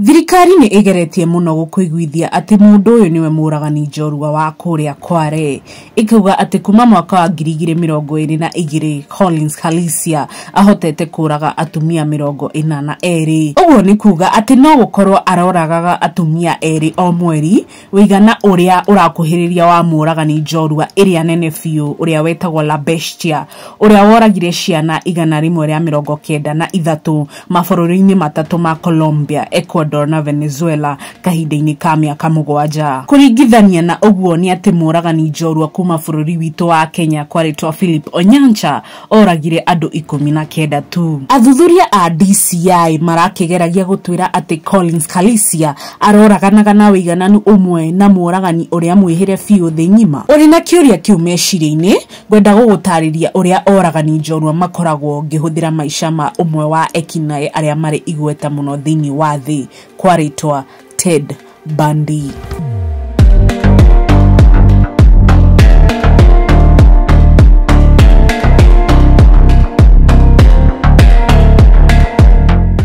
Thirikari nĩ ĩgeretie mũno gũkũiguithia atĩ mũndũ ũyũ nĩwe mũragani njorua wa kũrĩa Kware, ĩkauga atĩ kuma mwaka wa ngiri igĩrĩ mĩrongo ĩrĩ na igĩrĩ Collins Khalisia ahotete kũraga atumia mĩrongo ĩna na erĩ. Ũguo nĩ kuga atĩ no gũkorwo aroragaga atumia erĩ o mweri Ũigana ũrĩa ũrakuhĩrĩria wa mũũragani njorua ĩrĩa nene biũ ũrĩa wetagwo La Bestia, ũrĩa woragire ciana igana rĩmwe rĩa mĩrongo kenda na ithatũ mabũrũri-inĩ matatũ ma Colombia, Ecuador, na Venezuela kahinda-inĩ ka mĩaka mũgwanja. Kũringithania na ũguo nĩ atĩ mũũragani njorua kuuma bũrũri witũ wa Kenya kwarĩtwo Philip Onyancha oragire andũ ikũmi na kenda tu. Athuthuria a DCI marakĩgeragia gũtwĩra atĩ Collins Kalisia aroraganaga na wĩigananu ũmwe na mũragani ũrĩa mwĩhĩre biũ thĩ ng'ima. Ũrĩ na kĩũria kĩu meciria-inĩ, ngwenda gũgũtarĩria ũrĩa oragani njorua makoragwo ngĩhũthĩra maica ma ũmwe wa ekinaĩ arĩa marĩ igweta mũno thĩinĩ wa thĩ kwa rĩtwa Ted Bandi.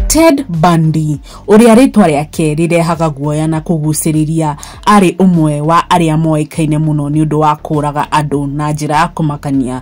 Ted Bundy ũrĩa rĩtwa rĩake rĩrehaga guoya na kũgucĩrĩria arĩ ũmwe wa arĩa moĩkaine mũno nĩ ũndũ wa kũraga andũ na njĩra ya kũmakania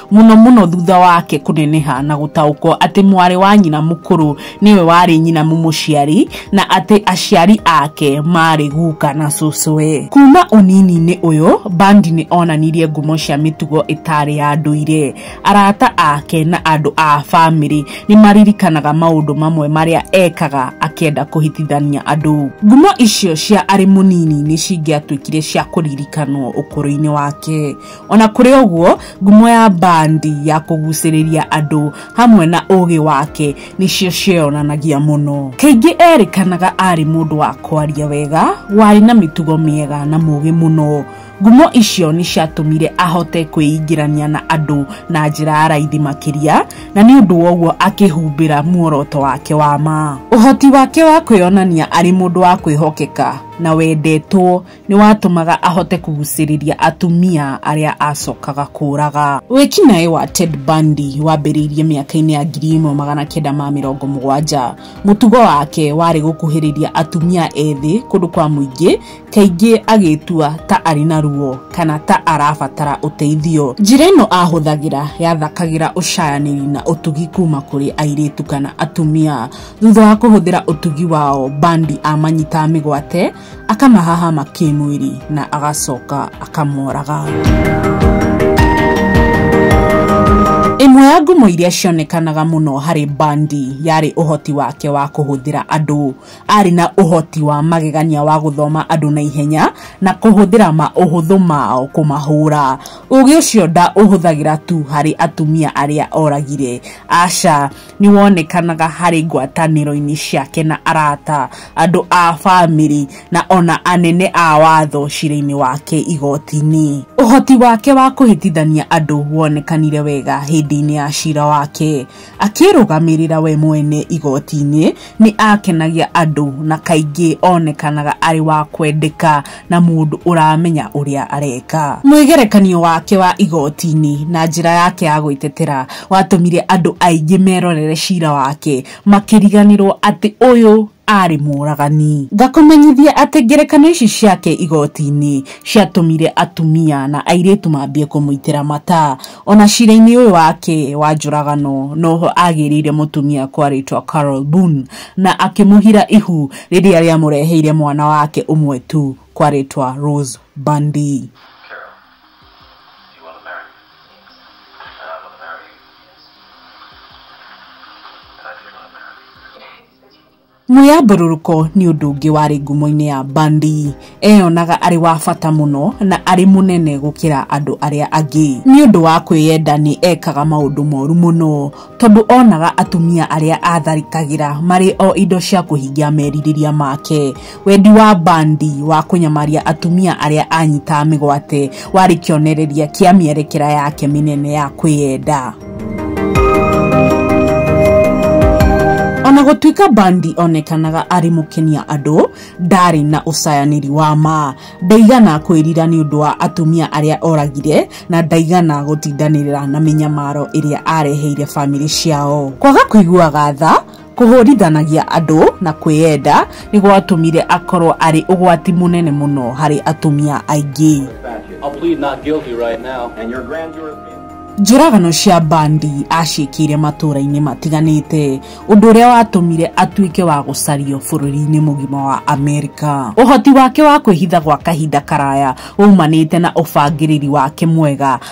mũno mũno thutha wake kũneneha na gũtaũkwo atĩ mwarĩ wa nyina mũkũrũ nĩwe warĩ nyina mũmũciari na atĩ aciari ake maarĩ guka na cũcũwe kuma ũnini-inĩ ũyũ bandi nĩ onanirie ngumo cia mĩtugo ĩtarĩ ya ndũire arata ake na andũ a bamĩrĩ nĩ maririkanaga maũndũ mamwe marĩa ekaga akĩenda kũhitithania andũ ngumo icio cia arĩ mũnini nĩ cingĩatuĩkire cia kũririkanwo ũkũrũ-inĩ wake Ona kũrĩ ũguo, ngumo ya bandi ya kũgucĩrĩria andũ hamwe na ũũgĩ wake nĩcio cieyonanagia mũno. Kaingĩ eerĩkanaga arĩ mũndũ wa kwaria wega, warĩ na mĩtugo mĩega, na mũũgĩ mũno. Ngumo icio nĩ ciatũmire ahote kwĩingĩrania na andũ na njĩra ya raithi makĩria, na nĩ ũndũ wa ũguo akĩhumbĩra muoroto wake wa ma. Ũhoti wake wa kwĩyonania arĩ mũndũ wa kwĩhokeka na wendetwo nĩ watũmaga ahote kũgucĩrĩria atumia arĩa acokaga kũraga. Wĩkinaĩ wa Ted Bundy wambĩrĩirie mĩaka-inĩ ya ngiri ĩmwe magana kenda ma mĩrongo mũgwanja. Mũtugo wake warĩ gũkuhĩrĩria atumia ethĩ kũndũ kwa mũingĩ, kaingĩ agĩtua ta arĩ na ruo kana ta arabatara ũteithio. Njĩra ĩno ahũthagĩra yathakagĩra ũcayanĩri na ũtugi kuma kũrĩ airĩtu kana atumia. Thutha wa kũhũthĩra ũtugi wao, Bundy amanyitaga mĩgwate akamahahama kĩmwĩrĩ na agacoka akamoraga ĩmwe ya ngumo iria cionekanaga mũno harĩ bandi yarĩ ũhoti wake wa kũhũthĩra andũ arĩ na ũhoti wa magegania wa gũthoma andũ na ihenya na kũhũthĩra maũhũthũ mao kũmahũra ũgĩ ũcio nda ũhũthagĩra tu harĩ atumia arĩa oragire aca nĩ wonekanaga harĩ ngwatanĩro-inĩ ciake na arata, andũ a famĩlĩ, na o na anene a watho cira-inĩ wake igooti-inĩ. Ũhoti wake wa kũhĩtithania andũ wonekanire wega hĩndĩ-inĩ ya cira wake. Akĩĩrũgamĩrĩra we mwene igooti-inĩ Nĩ aakenagia andũ na kaingĩ oonekanaga arĩ wa kwendeka na mũndũ ũramenya ũrĩa areka. Mwĩgerekanio wake wa igooti-inĩ na njĩra yake ya gwĩtetera watũmire andũ aingĩ merorere cira wake makĩriganĩrũo atĩ ũyũ aarĩ mũũragani. Ngakũmenyithia atĩ ngerekano ici ciake igooti-inĩ ciatũmire atumia na airĩtu mambie kũmũitĩra mata. O na cira-inĩ ũyũ wake wa njũragano no ho aagĩĩrĩire mũtumia kwa rĩĩtwa Carol Boone na akĩmũhira ihu rĩrĩa rĩamũreheire mwana wake ũmwe tu kwa rĩĩtwa Rose Bundy. Mwĩyambũrũrũko nĩ ũndũ ũngĩ warĩ ngumo-inĩ ya Bundy. Eeyonaga arĩ wa bata mũno na arĩ mũnene gũkĩra andũ arĩa angĩ. Nĩ ũndũ wa kwĩyenda nĩ eekaga maũndũ moru mũno, tondũ oonaga atumia arĩa aatharĩkagĩra marĩ o indo cia kũhingia merirĩria make. Wendi wa Bandi wa kũnyamaria atumia arĩa anyitaga mĩgwate warĩ kĩonereria kĩa mĩerekera yake mĩnene ya kwĩyenda. Ona gũtuĩka Bandi onekanaga arĩ mũkenia andũ, ndaarĩ na ũcayanĩri wa ma. Ndaigana kwĩrira nĩ ũndũ wa atumia arĩa oragire na ndaigana gũtindanĩrĩra na mĩnyamaro ĩrĩa aareheire famĩlĩ ciao. Kwaga kũiguaga tha, Kũhũrithanagia andũ na kwĩyenda nĩ gwatũmire akorũo arĩ ũgwati mũnene mũno harĩ atumia aingĩ. Njũragano cia Bundy aaciĩkĩire matũũra-inĩ matiganĩte, ũndũ ũrĩa watũmire atuĩke wa gũcario bũrũri-inĩ mũgima wa Amerika. Ũhoti wake wa kwĩhitha gwa kahinda karaya waumanĩte na ũbangĩrĩri wake mwega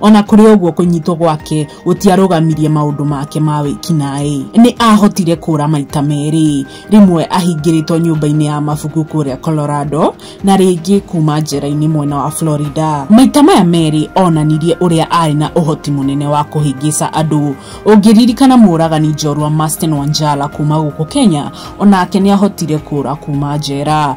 O na kũrĩ ũguo, kũnyitwo gwake gũtiarũgamirie maũndũ make ma wĩkinaĩ. Nĩ aahotire kũũra maita merĩ, rĩmwe ahingĩrĩtwo nyũmba-inĩ ya mabuku kũrĩa Colorado, na rĩngĩ kuuma njera-inĩ mwena wa Florida. Maita maya merĩ oonanirie ũrĩa aarĩ na ũhoti mũnene wa kũhĩngĩca andũ. Ũngĩririkana mũũragani njorua Masten Wanjala kuuma gũkũ Kenya, o nake nĩ aahotire kũũra kuuma njera.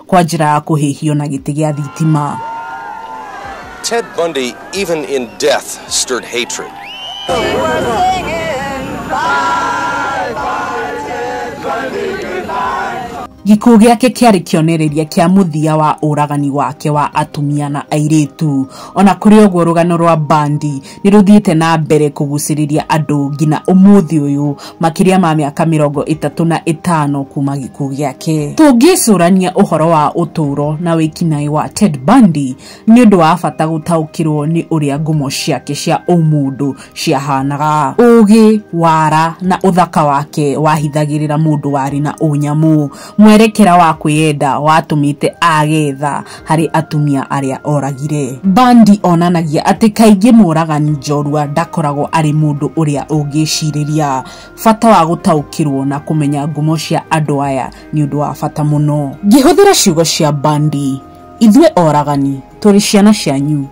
kwa njĩra ya kũhĩhio na gĩtĩ gĩa thitima. Ted Bundy, even in death, stirred hatred. Gĩkuũ gĩake kĩarĩ kĩonereria kĩa mũthia wa ũragani wake wa atumia na airĩtu. O na kũrĩ ũguo, rũgano rwa Bundy nĩ rũthiĩte na mbere kũgucĩrĩria andũ nginya ũmũthĩ ũyũ makĩria ma mĩaka mĩrongo ĩtatũ na ĩtano kuma gĩkuũ gĩake. Tũngĩcũrania ũhoro wa ũtũũro na wĩkinaĩ wa Ted Bundy, nĩ ũndũ wa bata gũtaũkĩrũo nĩ ũrĩa ngumo ciake cia ũmũndũ ciahaanaga. Ũũgĩ, wara, na ũthaka wake wahithagĩrĩra mũndũ warĩ na ũnyamũ. Mwerekera wa kwĩyenda watũmĩte aage tha harĩ atumia arĩa oragire. Bundy onanagia atĩ kaingĩ mũũragani njorua ndakoragwo arĩ mũndũ ũrĩa ũngĩĩcirĩria. Bata wa gũtaũkĩrũo na kũmenya ngumo cia andũ aya nĩ ũndũ wa bata mũno. Ngĩhũthĩra ciugo cia Bundy, ithuĩ oragani tũrĩ ciana cianyu.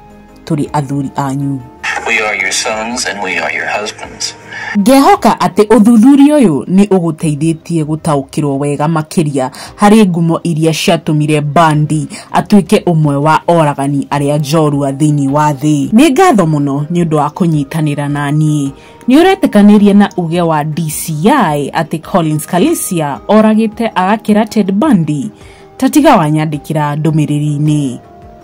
tũrĩ athuri anyu. We are your sons and we are your husbands. Ngehoka atĩ ũthuthuria ũyũ nĩ ũgũteithĩtie gũtaũkĩrũo wega makĩria harĩ ngumo iria ciatũmire Bundy atuĩke ũmwe wa oragani arĩa njorua thĩinĩ wa thĩ. Nĩ ngatho mũno nĩ ũndũ wa kũnyitanĩra na niĩ. Nĩ ũretĩkanĩria na uge wa DCI atĩ Collins Kalicia oragĩte agakĩra Ted Bundy? Ta tiga wanyandĩkĩra ndũmĩrĩri-inĩ.